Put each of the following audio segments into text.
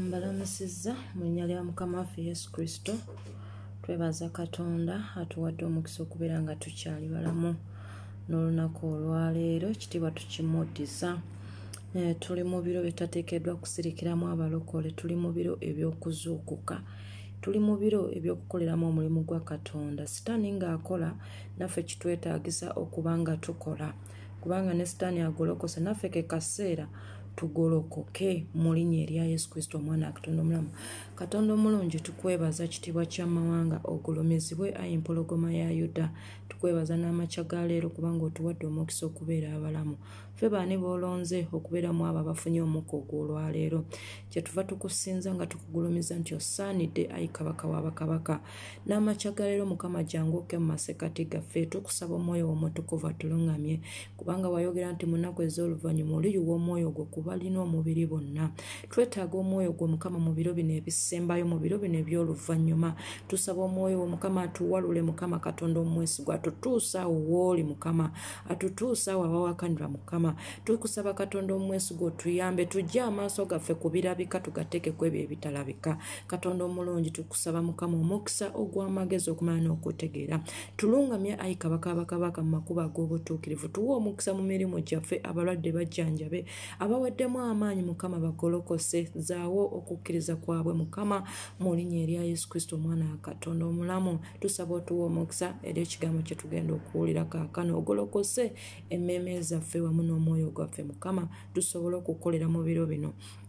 mbalamusizza mu linnya lya mukama waffe yesu kristo twebaza katonda atuwadde omukisa okubeera nga tukyali balamu n'olunaku olwaleero ekitiibwa tukimuddisa eh, tuli mu biro bitateekeddwa kusirikiramu abalokole tuli mu biro eby'okuzuukuka tuli mu biro eby'okukoleramu omulimu gwa katonda sitaani ng'akola naffe kitwetaagisa okuba nga tukola kubanga ne sitaani agolokosa naffe ke kaseera tugolokoke mu linnya erya yesu kristo omwana katonda omulamu katonda omulungi tukwebaza kitiibwa kyamawanga ogulumizibwe ayi mpologoma ya yuda tukwebaza n'amakya ga leero kubanga otuwadde omukisa okubeera abalamu ffe baani boolonze okubeera mu abo abafunye omukka ogw'olwaleero kyetuva tukusinza nga tukugulumiza nti osaanidde ayi kabaka wa bakabaka n'amakya ga leero mukama jangu oke mu masekati gaffe tukusaba omwoyo womutukuvu atulungamye kubanga wayogera nti mu nnaku ez'oluvannyuma oliyuwa omwoyo gwo kubalina omubiri bonna twetaaga omwoyo gwo mukama mu biro bino ebisembayo mu biro bino eby'oluvannyuma tusaba omwoyo wo mukama atuwalule mukama katonda omwesigwa atutuusa awo wooli mukama atutuusa awo awawakanira mukama tukusaba katonda omwesigwa otuyambe tujje amaaso gaffe ku birabika tugateekeko ebyo ebitalabika katonda omulungi kusaba mukama omukisa ogw'amagezi okumala n'okutegeera tulungamya ayi kabaka bakabaka mu makubo ag'obutuukirivu tuwa omukisa mu mirimu gyaffe abalwadde bajjanjabe abaweddemu amaanyi mukama bagolokose zaawo okukkiriza kwabwe mukama mu linnya erya yesu kristo omwana wa katonda omulamu tusaba otuwa omukisa eri ekigambo kye tugenda okuwulira kaakano ogolokose emmeeme zaffe wamu n'omwoyo gwaffe mukama tusobole okukolera mu biro bino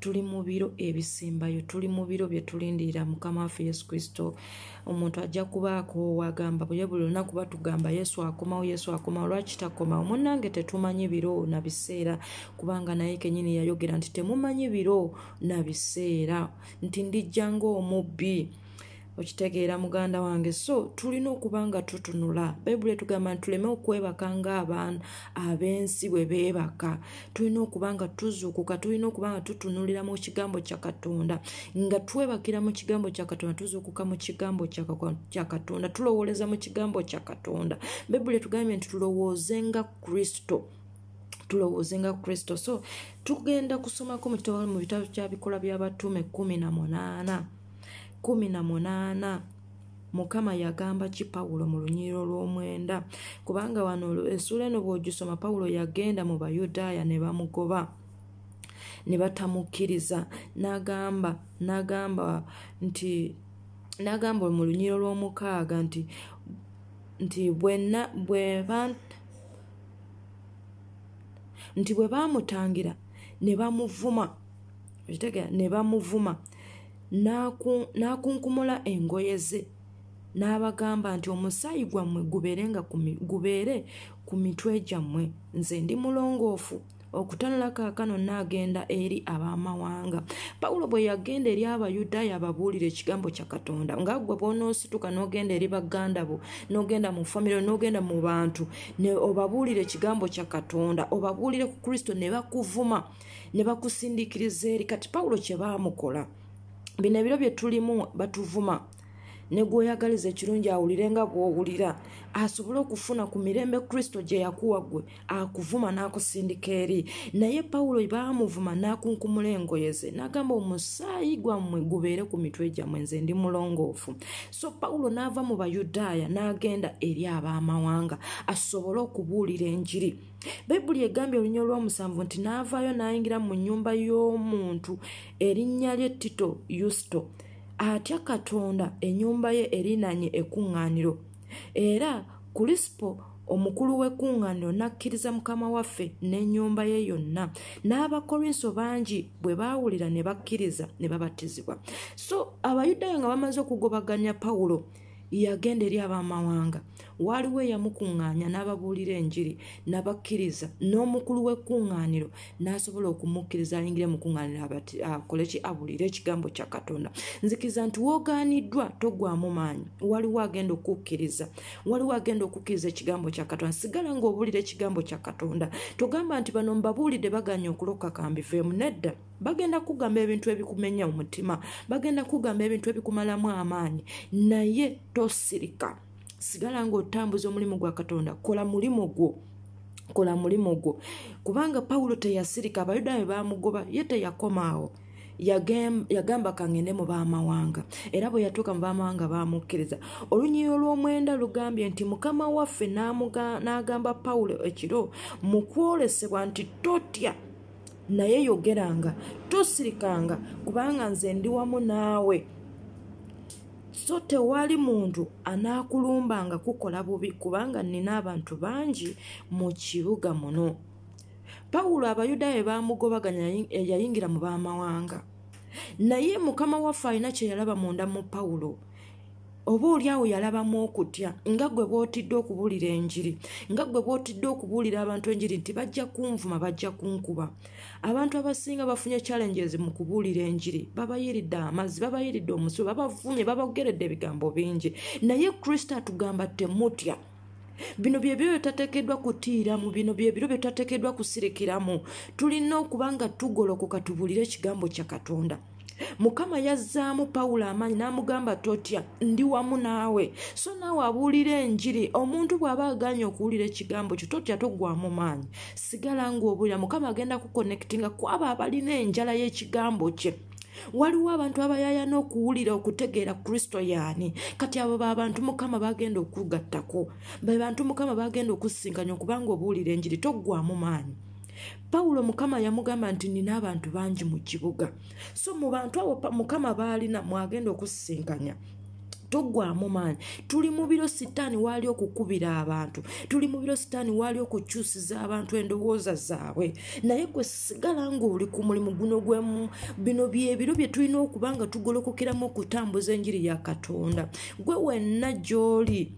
tuli mu biro ebisembayo tuli mu biro bye tulindirira mukama waffe yesu kristo omuntu ajja kuba akoowa agamba buye buli lunaku batugamba yesu akomawo yesu akomawo lwaki takomawo munnange tetumanyi biro na biseera kubanga naye kenyini yayogera nti temumanyi biro na biseera nti ndijja ngaomubbi okitegeera muganda wange so tulina okuba nga tutunula bayibuli etugamba nti tuleme okwebaka ngaabaana ab'ensi bwe beebaka tulina okuba nga tuzuukuka tulina okuba nga tutunulira mu kigambo kya katonda nga twebakira mu kigambo kya katonda tuzuukuka mu kigambo kya katonda tulowooleza mu kigambo kya katonda bayibuli etugambye nti tulowooze nga kristo tulowooze nga kristo so tugenda kusomako mu kitabo mu bitabo kya bikola by'abatuume kumi na munaana kumi na munaana mukama yagamba ki pawulo mu lunyiriro lw'omwenda kubanga wano esuula eno bw'ogisoma pawulo yagenda mu bayudaaya ne bamugoba ne batamukkiriza n'agamba n'agamba nti n'agamba mu lunyiriro lw'omukaaga nti nti bwenna bweba nti bwe baamutangira ne bamuvuma okitegera ne bamuvuma n'akunkumula engoye ze n'abagamba nti omusaayi gwammwe gubeere ku mitwe gyammwe nze ndi mulongoofu okutanula kaakano naagenda eri ab'amawanga pawulo bwe yagenda eri abayudaaya ababuulira ekigambo kya katonda nga gwe bwonoosituka n'ogenda eri baganda bo n'ogenda mu famire n'ogenda mu bantu ne obabuulira ekigambo kya katonda obabuulire ku kristo ne bakuvuma ne bakusindiikiriza eri kati pawulo kye baamukola bino ebiro bye tulimu batuvuma ne gwoyagaliza ekirungi awulire nga gwowulira asobole okufuna ku mirembe kristo gye yakuwa gwe akuvuma n'akusindika eri naye pawulo baamuvuma n'akunkumula engoye ze n'agamba omusaayi gwammwe gubeere ku mitwe gyammwe nze ndi mulongoofu so pawulo n'ava mu bayudaaya n'agenda eri ab'amawanga asobole okubuulira enjiri bayibuli egambye olunya olwomusanvu nti n'avaayo n'ayingira mu nyumba y'omuntu erinnya lye tito yusito atya katonda enyumba ye erinanye ekuŋŋaaniro era kulisipo omukulu w'ekuŋŋaaniro n'akkiriza mukama waffe n'ennyumba ye yonna n'abakorinso bangi bwe baawulira ne bakkiriza ne babatizibwa so abayudaaya nga bamaze okugobaganya pawulo yagenda eri ab'amawanga waaliwo eyamukuŋŋaanya n'ababuulira enjiri nabakkiriza n'omukulu w'ekkuŋŋaaniro n'asobola okumukkiriza ayingire mu kuŋŋaaniro akole ki abuulire ekigambo kya katonda nzikiriza nti woogaaniddwa togwamu maanyi waliwo agenda okukkiriza waliwo agenda okukkiriza ekigambo kya katonda sigala ng'obuulira ekigambo kya katonda togamba nti bano mbabuulidde baganya okuloka kambiveemu nedda bagenda kugamba ebintu ebikumenya omutima bagenda kugamba ebintu ebikumalamu amaanyi naye tosirika sigala ngaotambuza omulimu gwa katonda kola mulimu gwo kola mulimu gwo kubanga pawulo teyasirika abayudayo bamugoba ye teyakomaawo yagamba kangende mu bamawanga era bwe yatuuka mu bamawanga baamukkiriza olunyiyi olw'omwenda lugambye nti mukama waffe n'agamba pawulo ekiro mu kwolesebwa nti totya naye yogeranga tosirikanga kubanga nze ndi wamu naawe so tewali muntu anaakulumbanga kukola bubi kubanga nina abantu bangi mu kibuga muno pawulo abayudaaya baamugobaganya yayingira mu baamawanga naye mukama waffe alina kyeyalaba munda mu pawulo oba oli awo yalabamu okutya nga gwe bwotidde okubuulira enjiri nga gwe bwotidde okubuulira abantu enjiri nti bajja kunvuma bajja kunkuba abantu abasinga bafunye challenges mu kubuulira enjiri babayiridde amazzi babayiridde omusu babavumye babageredde ebigambo bingi naye kristo atugamba temutya bino byebiro byetatekeddwa kutiiramu bino byebiro byetatekeddwa kusirikiramu tulina okuba nga tugolokoka tubuulire ekigambo kya katonda mukama yazzaamu pawulo amaanyi n'amugamba totya ndi wamu naawe so naawe abuulira enjiri omuntu bw'aba aganye okuwulira ekigambo kyo totya togwamu maanyi sigala ng'obuulira mukama agenda kukonectinga ku abo abalina enjala y'ekigambo kye waliwo abantu abayaya n'okuwulira okutegeera kristo yaani kati abo babantu mukama bagenda okugattako bebantu mukama bagenda okusinkanya okubanga obuwulira enjiri toggwamu maanyi pawulo mukama yamugamba nti nina abantu bangi mu kibuga so mu bantu abo mukama baalina mwagenda okusisinkanya togwamu maanyi tuli mu biro sitaani waali okukubira abantu tuli mu biro sitaani waali okukyusiza abantu endowooza zaabwe naye gwe sigala ngaoli ku mulimu guno gwemu bino byebiro bye tulina okuba nga tugolokokeramu okutambuza enjiri ya katonda gwe wenna gy'oli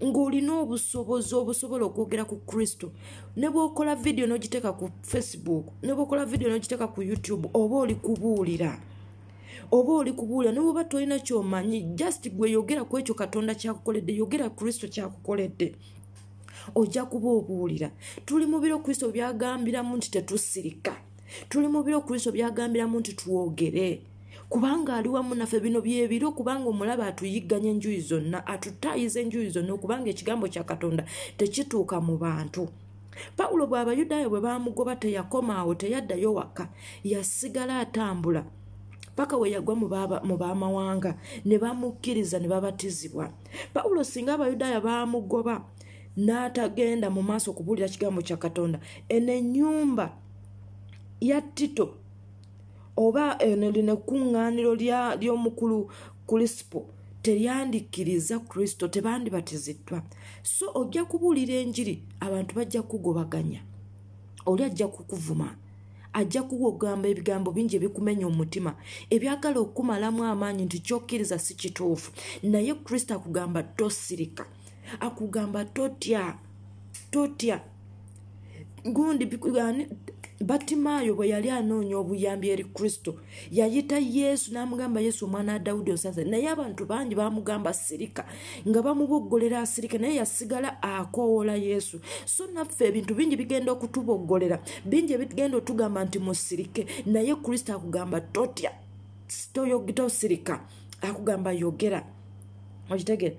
ng'olina obusobozi obusobola okwogera ku kristo ne bwokola vidiyo n'ogiteeka ku facebook ne bwokola vidiyo n'ogiteeka ku youtube oba oli kubuulira oba oli kubuulira nawe oba tolina kyomanyi just gwe yogera ku ekyo katonda kyakukoledde yogera kristo kyakukoledde ojja kuba obuulira tuli mu biro kristo byagambiramu nti tetusirika tuli mu biro kristo byagambiramu nti twogere kubanga ali wamu naffe bino byebiro kubanga omulaba atuyigganya enjuyi zonna atutaayiza enjuyi zonna okubanga ekigambo kya katonda tekituuka mu bantu pawulo bw'abayudaaya bwe baamugoba teyakoma awo teyaddayo wakka yasigala atambula paka we yagwa mu b'amawanga ne bamukkiriza ne babatizibwa pawulo singa abayudaaya baamugoba n'atagenda mu maaso okubuulira kigambo kya katonda eno ennyumba ya tito oba eno lino ekkuŋŋaaniro ly'omukulu kulisipo teryandikkiriza kristo tebandibatiziddwa so ojja kubuulira enjiri abantu bajja kukugobaganya oli ajja kukuvuma ajja kuwa okugamba ebigambo bingi ebikumenya omutima ebyagala okukumalamu amaanyi nti kyokkiriza si kituufu naye kristo akugamba tosirika akugamba totya totya gundi batimaayo bwe yali anoonya obuyambi eri kristo yayita yesu n'amugamba yesu omwana wa dawudi osaze naye abantu bangi bamugamba sirika nga bamuboggolera asirika naye yasigala akoowola yesu so naffe ebintu bingi bigenda okutuboggolera bingi ebigenda otugamba nti musirike naye kristo akugamba totya toyogita osirika akugamba yogera okitegere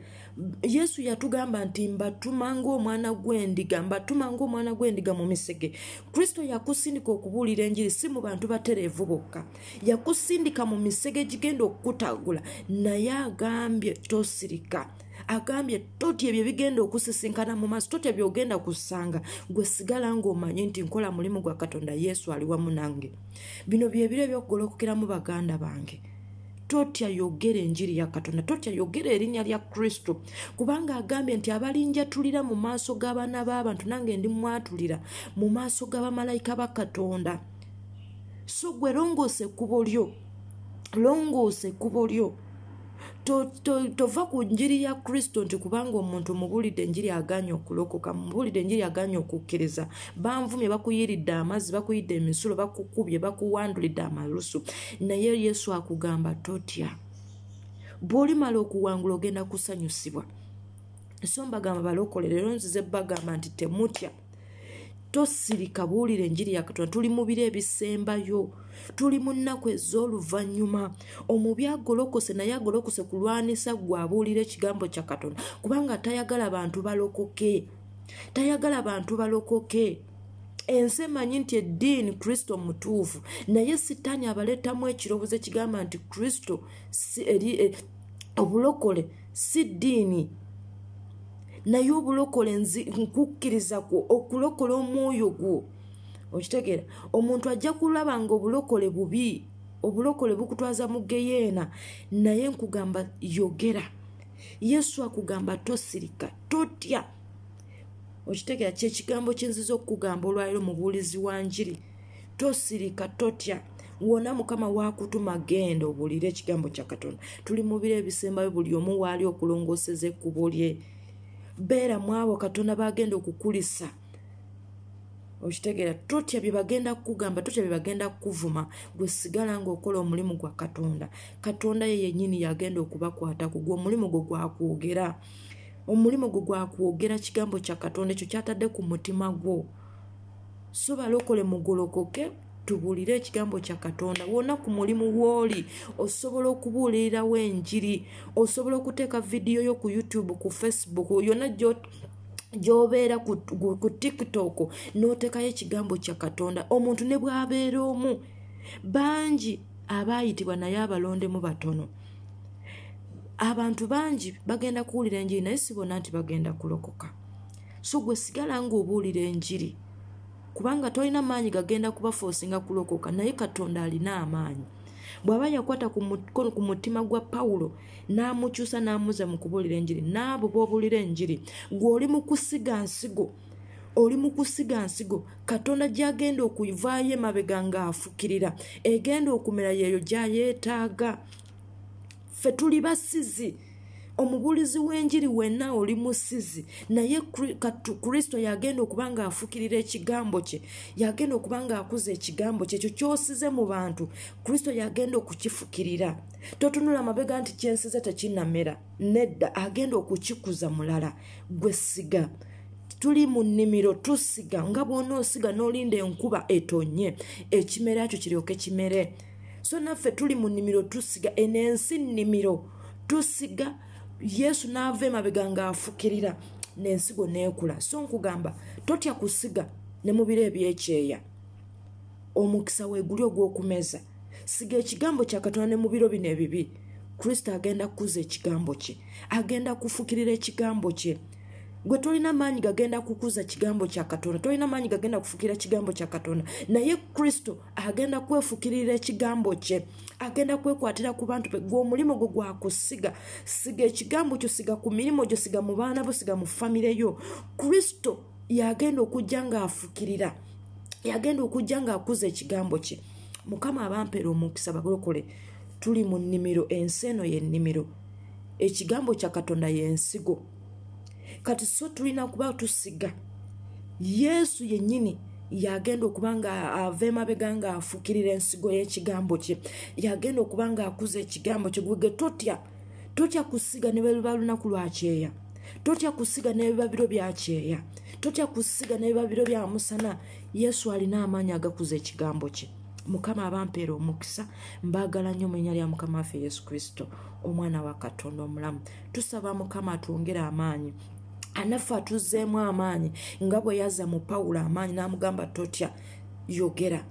yesu yatugamba nti mbatuma ngaomwana gwendiga mbatuma ngaomwana gwendiga mu misege kristo yakusindika okubuulira enjiri si mu bantu batereevu bokka yakusindika mu misege gigenda okukutagula naye agambye tosirika agambye toti ebyo bigenda okusisinkana mu maaso toti ebyo ogenda kusanga gwe sigala ngaomanyi nti nkola mulimu gwa katonda yesu ali wamu nange bino byebiro ebyokugolokokeramu baganda bange totya yogera enjiri ya katonda totya yogera erinnya lya kristo kubanga agambye nti abalinjatulira mu maaso g'abaana b'abantu nange ndi mwatulira mu maaso g'abamalayika ba katonda so gwe longoosa ekkubo lyo longoosa ekkubo lyo tova ku njiri ya kristo nti kubanga omuntu mubuulidde enjiri aganye okulokoka mubuulidde enjiri aganye okukkiriza banvumye bakuyiridde amazzi bakuyidde emisulo bakukubye bakuwandulidde amalusu naye yesu akugamba totya bw'olimala okuwangula ogenda kusanyusibwa so mbagamba balokole leero nzize bagamba nti temutya tosirika buwulira enjiri ya katonda tuli mu biro ebisembayo tuli mu nnaku ez'oluvannyuma omubi agolokose naye agolokose kulwanisa gwe abuulira ekigambo kya katonda kubanga tayagala bantu balokoke tayagala bantu balokoke ensi emanyi nti eddiini kristo mutuufu naye sitaani abaleetamu ekirowoozo ekigamba nti kristo eh, obulokole si ddiini naye obulokole nkukkiriza kwo okulokola omwoyo gwo okitegeera omuntu ajja kulaba nga obulokole bubi obulokole bukutwaza mu geyeena naye nkugamba yogera yesu akugamba tosirika totya okitegeera kyekigambo kyenziza okukugamba olwaliro mubuulizi wa njiri tosirika totya wona mukama wakutuma genda obulire ekigambo kya katonda tuli mu biro ebisembayo buli omu waali okulongooseza ekkubo lye beera mwabo katonda bagenda okukulisa okitegeera totya byebagenda kukugamba totya byebagenda kukuvuma gwe sigala ngaokola omulimu gwa katonda katonda ye yenyini yagenda okubakwata kugwa omulimu gwo gwakwogera omulimu gwo gwakwogera kigambo kya katonda ekyo kyatadde ku mutima gwo so balokole mugolokoke okay? tubuulire ekigambo kya katonda wona ku mulimu wooli osobola okubuulirirawo enjiri osobola okuteeka vidiyo yo ku youtube ku facebook yona gyobeera ku tiktok n'oteekayo ekigambo kya katonda omuntu ne bwabeera omu bangi abaayitibwa naye abalondemu batono abantu bangi bagenda kuwulira enjiri naye sibona nti bagenda kulokoka so gwe sigala nga obuulira enjiri kubanga tolina maanyi gagenda kubafoosinga kulokoka naye katonda alina amaanyi bw'aba yakwata kumukono ku mutima gwa pawulo n'amukyusa n'amuza mu kubuulira enjiri n'abo b'obuulira enjiri gwe oli mu kusiga nsigo oli mu kusiga nsigo katonda gy'agenda okuvaayo emabega ng'afukirira egenda okumera yeeyo gy'ayeetaaga ffe tuli basizi omubuulizi w'enjiri wenna oli musizi naye kristo yagenda okuba nga afukirira ekigambo kye yagenda okuba nga akuza ekigambo kye ekyo kyosize mu bantu kristo yagenda okukifukirira totunula mabega nti kyensize tekinamera nedda agenda okukikuza mulala gwe siga tuli mu nnimiro tusiga nga bwonaosiga n'olinda enkuba etonye ekimera ekyo kiryoke kimere so naffe tuli mu nnimiro tusiga eno ensi nnimiro tusiga yesu n'ava emabega ng'afukirira n'ensigo n'ekula so nkugamba totya kusiga ne mu biro ebyekyeya omukisa weeguli ogw'okumeza siga ekigambo kya katonda ne mu biro bino ebibi kristo agenda kukuza ekigambo kye agenda kufukirira ekigambo kye gwe tolina maanyi gagenda kukuza kigambo kya katonda tolina maanyi gagenda kufukira kigambo kya katonda naye kristo agenda kwefukirira ekigambo kye agenda kwekwatira ku bantu be gwe omulimu gwo gwakusiga siga ekigambo kyo siga ku mirimu gyo siga mu baana bo siga mu famire yo kristo yagenda okujja ng'afukirira yagenda okujja ng'akuza ekigambo kye mukama abampera omukisa bakulokole tuli mu nnimiro ensi eno y'ennimiro ekigambo kya katonda y'ensigo kati so tulina kuba tusiga yesu yennyini yagenda okuba nga ava emabega nga afukirira ensigo y'ekigambo kye yagenda okuba nga akuza ekigambo kye gwege totya totya kusiga ne beluba lunaku lwa kyeya totya kusiga n'ebibabiro bya kyeya totya kusiga n'ebibabiro bya musana yesu alina amaanyi agakuza ekigambo kye mukama abampeera omukisa mbaagala nnyo mu linya lya mukama waffe yesu kristo omwana wa katonda omulamu tusaba mukama atwongere amaanyi anaffe atuzzeemu amaanyi nga bwe yaza mu pawulo amaanyi n'amugamba totya yogera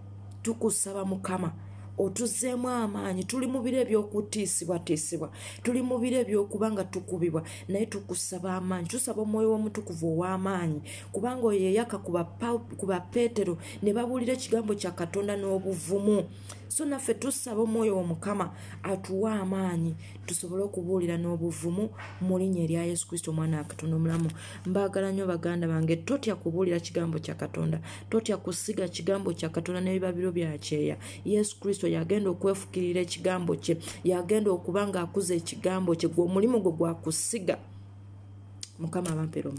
tukusaba mukama otuzeemu amaanyi tuli mu biro ebyokutiisibwatiisibwa tuli mu biro ebyokuba nga tukubibwa naye tukusaba amaanyi tusaba omwoyo w'omutukuvu ow'amaanyi kubanga oyo yeyaka ku bapeetero ne babuulira ekigambo kya katonda n'obuvumu so naffe tusaba omwoyo womukama atuwe amaanyi tusobole okubuulira n'obuvumu mu linya erya yesu kristo omwana wa katonda omulamu mbaagala nnyo baganda bange totya kubuulira kigambo kya katonda totya kusiga kigambo kya katonda n'ebibabiro bya kyeya yesu kristo yagenda okwefukirira ekigambo kye yagenda okuba ng'akuza ekigambo kye gwe omulimu gwe gwakusiga mukama abamperomu